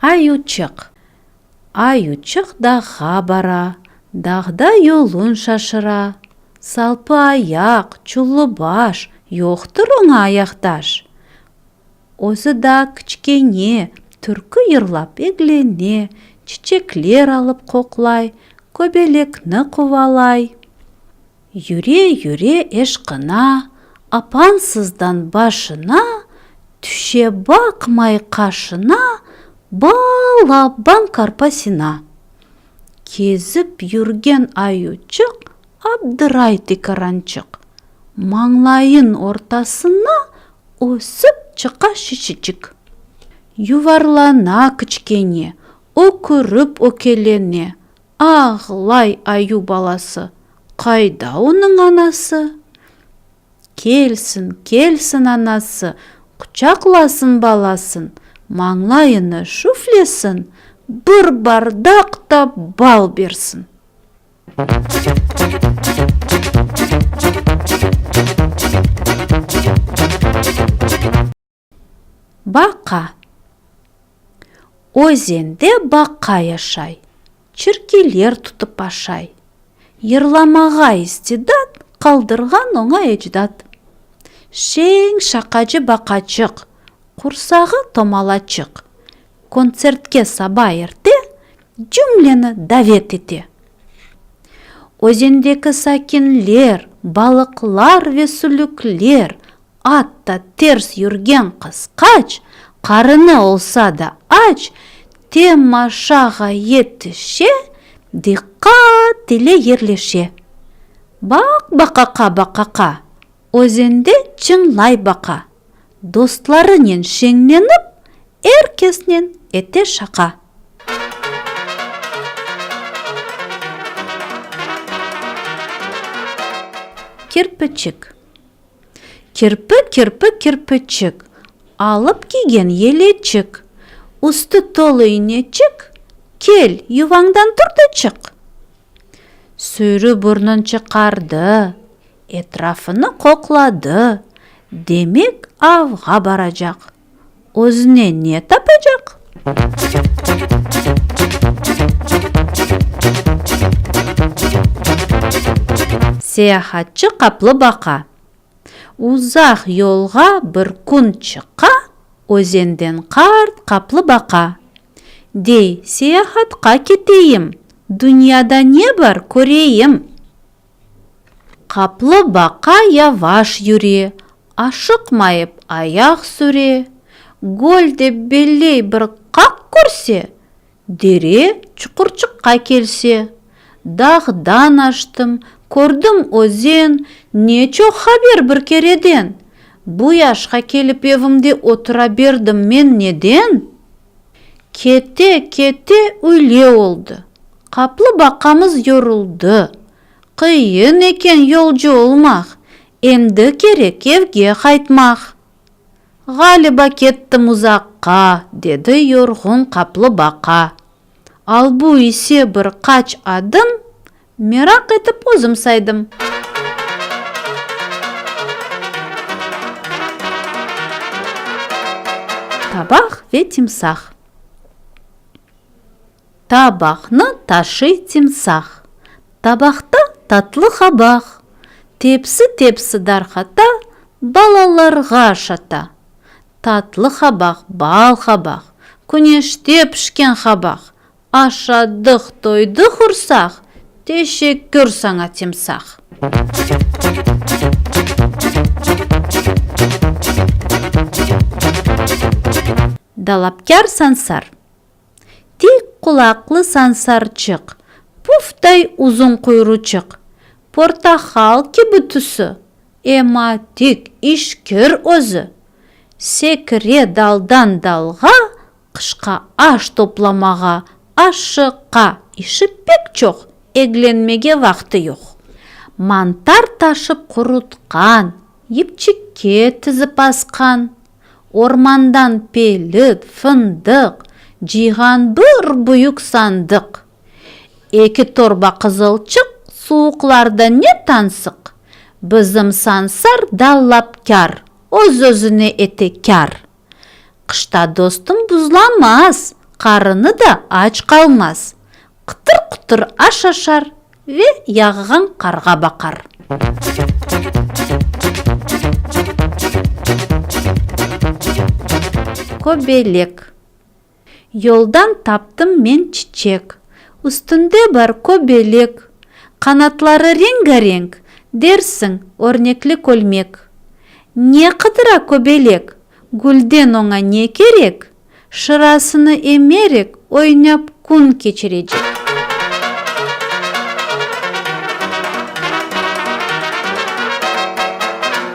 Ayuçıq Ayuçıq dağğa bara, Dağda yolun şaşıra. Salpı ayaq, çullı baş, Yoqtır oña ayaqdaş. Özü daa kiçkene, türkü yırlap eglene, çiçekler alıp qoqlay, köbelekni quvalay. Yüre-yüre eşqına, apansızdan başına, tüşe baqmay qaşına, bal-abban qarpasına. Kezip yürgen ayuçıq Abdıray tikarançıq, mañlayın ortasına ösip çıqa şişicik. Yuvarlana kiçkene, ökürip ökelene, ağlay ayu balası. Qayda onıñ anası? Kelsin, kelsin anası, quçaqlasın balasın, mañlayını şüflesin, bir bardaq da bal bersin. Baqa. Özende baqa yaşay. Çirkiler tutıp aşay. Yırlamağa istidat qaldırğan oña ecdat. Şeñ şaqacı baqaçıq, qursağı tomalaçıq. Kontsertke saba erte Cümleni davet ete. Özendeki sakinler, balıqlar ve sülükler, atta ters yürgen qısqaç, qarını olsa da aç, temaşağa yetişe, diqqat ile yerleşe. Baq baqaqa, baqaqa! Özende çıñlay baqa. Dostlarınen şeñlenip, er kesnen ete şaqa. Kirpiçik. Kirpi, kirpi, kirpiçik. Alıp kiygen yeleçik. Üstü tolu ineçik. Kel, yuvañdan tur da çıq. Sürü burnun çıqardı. Etrafını qoqladı, demek, avğa baracaq. Özüne ne tapacaq? Seyahatçı qaplı baqa. Uzaq yolğa bir kün çıqa özenden qart qaplı baqa. Dey, seyahatqa keteyim, dünyada ne bar, köreyim. Qaplıbaqa yavaş yüre, aşıqmayıp ayaq süre, göl de belley bir qaq körse, dere çuqurçıqqa kelse. Dağdan aştım, kördim özen, ne çoq haber bir kereden! Bu yaşqa kelip evimde otura berdim men neden? Kete-kete üyle oldı. Qaplı baqamız yoruldı. Qıyın eken yolcu olmaq, endi kerek evge qaytmaq. Ğaliba kettim uzaqqa, dedi yorğun qaplı baqa. Albu ise bir qaç adım Meraq etip özüm saydım. Tabaq ve timsah. Tabaqnı taşıy timsah. Tabaqta tatlı qabaq. Tepsi tepsi darqata, balalarğa şata. Tatlı qabaq, bal qabaq. Küneşte pişken qabaq. Aşadıq, doydıq ursaq, teşekkür saña timsah. Dalapkâr sansar. Tik qulaqlı sansarçıq, pufday uzun quyruçıq, portahal kibi tüsü, ema tik, işkir özü. Sekire daldan dalğa, Qışqa aş toplamağa, aşşıqqa, işi pek çoq, eglenmege vaqtı yoq. Mantar taşıp qurutqan, yipçikke tizip asqan, ormandan pelit, fındıq, cıyğan bir büyük sandıq, eki torba qızılçıq, suvuqlarda ne tansıq, bizim Sansar da lapkâr, öz-özüne etekâr. Qışta dostum buzlamaz, qarını da aç qalmaz. Qıtır-qutır aş aşar ve yağğan qarğa baqar. Köbelek. Yoldan taptım men çiçek. Üstünde bar köbelek. Qanatları rengarenk, Dersiñ, örnekli kölmek. Ne qıdıra köbelek? Gülden oña ne kerek? Şırasını emerek, Oynap kün keçirecek.